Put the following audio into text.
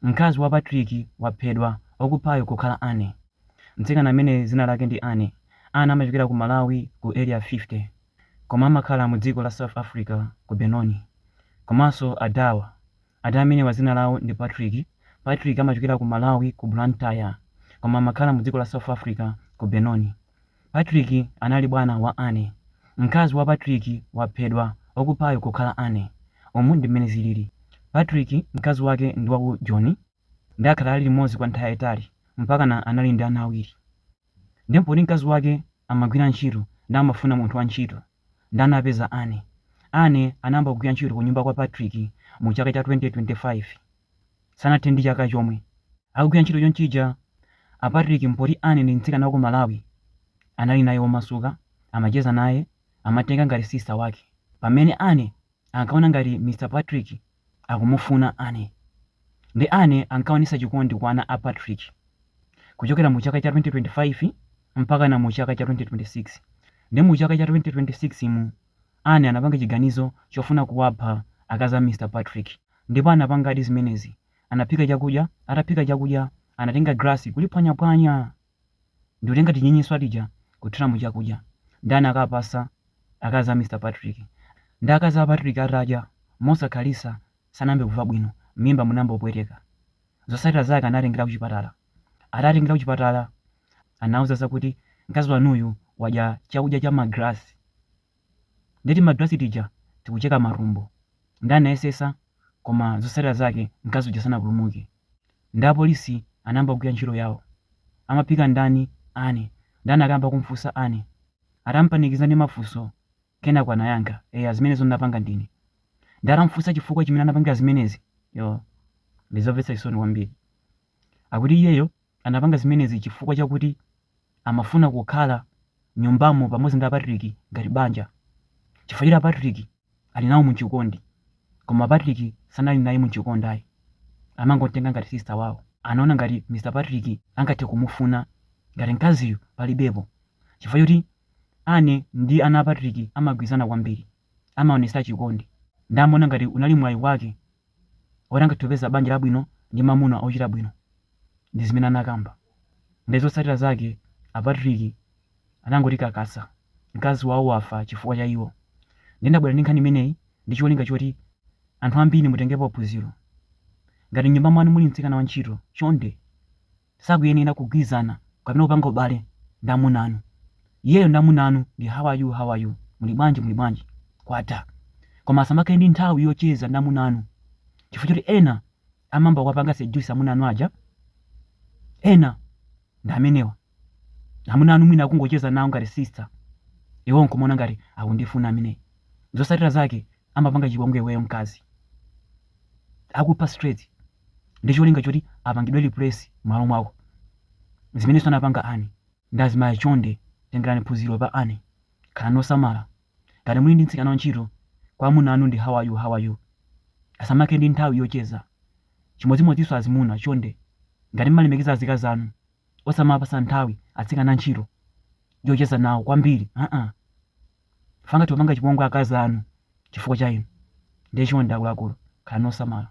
Mkazi wa Patrick waphedwa, okuphayo kukhala Anne. Mtsikana ameneyi dzina lake ndi Anne. Anne amachokera ku Malawi ku Area 50 koma amakhala mu dziko la South Africa ku Benoni. Komanso adawa. Ada amenewa dzina lawo ndi Patrick. Patrick amachokera ku Malawi ku Blantyre koma amakhala mu dziko la South Africa ku Benoni. Patrick anali bwana wa Anne. Mkazi wa Patrick waphedwa, okuphayo kukhala Anne. Umu ndi mmene zilili. Patrick, mkazi wake ndi waku Joni, nde akhala ali limodzi kwa nthawi yayitali, mpakana anali ndi ana awiri. Nde mpoti mkazi wake amagwira ntchito, nde amafuna munthu wa ntchito, nde anapeza Anne. Anne anayamba kugwira ntchito ku nyumba kwa Patrick mu chaka cha 2025. sanathe ndi chaka chomwe akugwira ntchito chonchija, a Patrick mpoti Anne ndi mtsikana waku Malawi anali naye womasuka, amacheza naye, amamutenga ngati sister wake pamene Anne ankaona ngati Mr Patrick akumufuna Anne nde Anne ankaonesa chikondi kwa ana a Patrick kuchokera mu chaka cha 2025 mpakana mu chaka cha 2026 nde mu chaka cha 2026 mu Anne anapanga chiganizo chofuna kuwapha akazi a Mr Patrick ndipo anapangadi zimenezi. Anaphika chakudya, ataphika chakudya anatenga glass kuliphwanyaphwanya ndikutenga tinyenyeswa tija kuthira muchakudya nde anakapasa akazi a Mr Patrick nde akazi a Patrick atadya mosakhalisa sanayambe kuva bwino mmimba munayamba kupweteka. Zosatila zake anatengeredwa kuchipatala atatengeredwa kuchipatala. anawauza zakuti mkazi wanuyu wadya chakudya cha ma glass nde tima glass tija tikucheka matumbo nde anayesesa koma zosatira zake mkazi uja sanapulumuke nde apolisi anayamba kugwira ntchito yawo amaphika ndani Anne nde anakayamba kumfusa Anne atampanikiza ndi mafuso kenako anayankha eya zimenezo ndinapanga ndine nde atamfusa chifukwa chimene anapangira zimenezi yo ndizovetsa chisoni kwambiri akuti iyeyo Anapanga zimenezi chifukwa chakuti amafuna kukhala m'nyumbamo pamodzi ndi a Patrick ngati banja chifukwa choti a Patrick ali nawo mu chikondi. Koma a Patrick sanali naye mu chikondi ayi. Amangomutenga ngati sister wawo. Anaona ngati Mr. Patrick angathe kumufuna ngati mkaziyu palibepo chifukwa choti Anne ndi ana a Patrick amagwirizana kwambiri. Amawaonetsera chikondi. Ndiye amaona ngati unali mwayi wake oti angathe kupeza banja labwino ndi mamuna ochita bwino ndi zimene anakamba. Nde zotsatira zake a Patrick anangoti kakasa, mkazi wawo wafa chifukwa cha iwo. Nde ndabwera ndi nkhani imeneyi ndi cholinga choti anthu ambiri mutengepo phunziro. Ngati mnyumba mwanu muli mtsikana wantchito, chonde. sakuyenera kugwirizana kapena kupanga ubale ndi amuna anu. Iyeyo ndi amuna anu ndi how are you, how are you, muli bwanji, muli bwanji, kwatha. Koma asamakhale ndi nthawi yocheza ndi amuna anu chifukwa choti ena amayamba kuwapanga seduce amuna anu aja. Ena ndi amenewa. Amuna anu mwina akungocheza nawo ngati sister, iwo nkumaona ngati akundifuna ameneyi. Zotsatira zake amapanga chipongwe iweyo mkazi. Akupha straight. ndi cholinga choti apangidwe replace malo mwako zimenenso anapanga Annie ndi azimayi chonde tengerani phunziro pa Annie khalani osamala ngati muli ndi mtsikana wantchito kwa amuna anu ndi how are you how are you asamakhale ndi nthawi yocheza chimodzimodzinso azimuna chonde ngati mmalemekeza azikazi anu osamawapatsa nthawi atsikana antchito yocheza nawo kwambiri aa chifukwa atha kupanga chipongwe akazi anu chifukwa cha inu ndiye chonde akuluakulu khalani osamala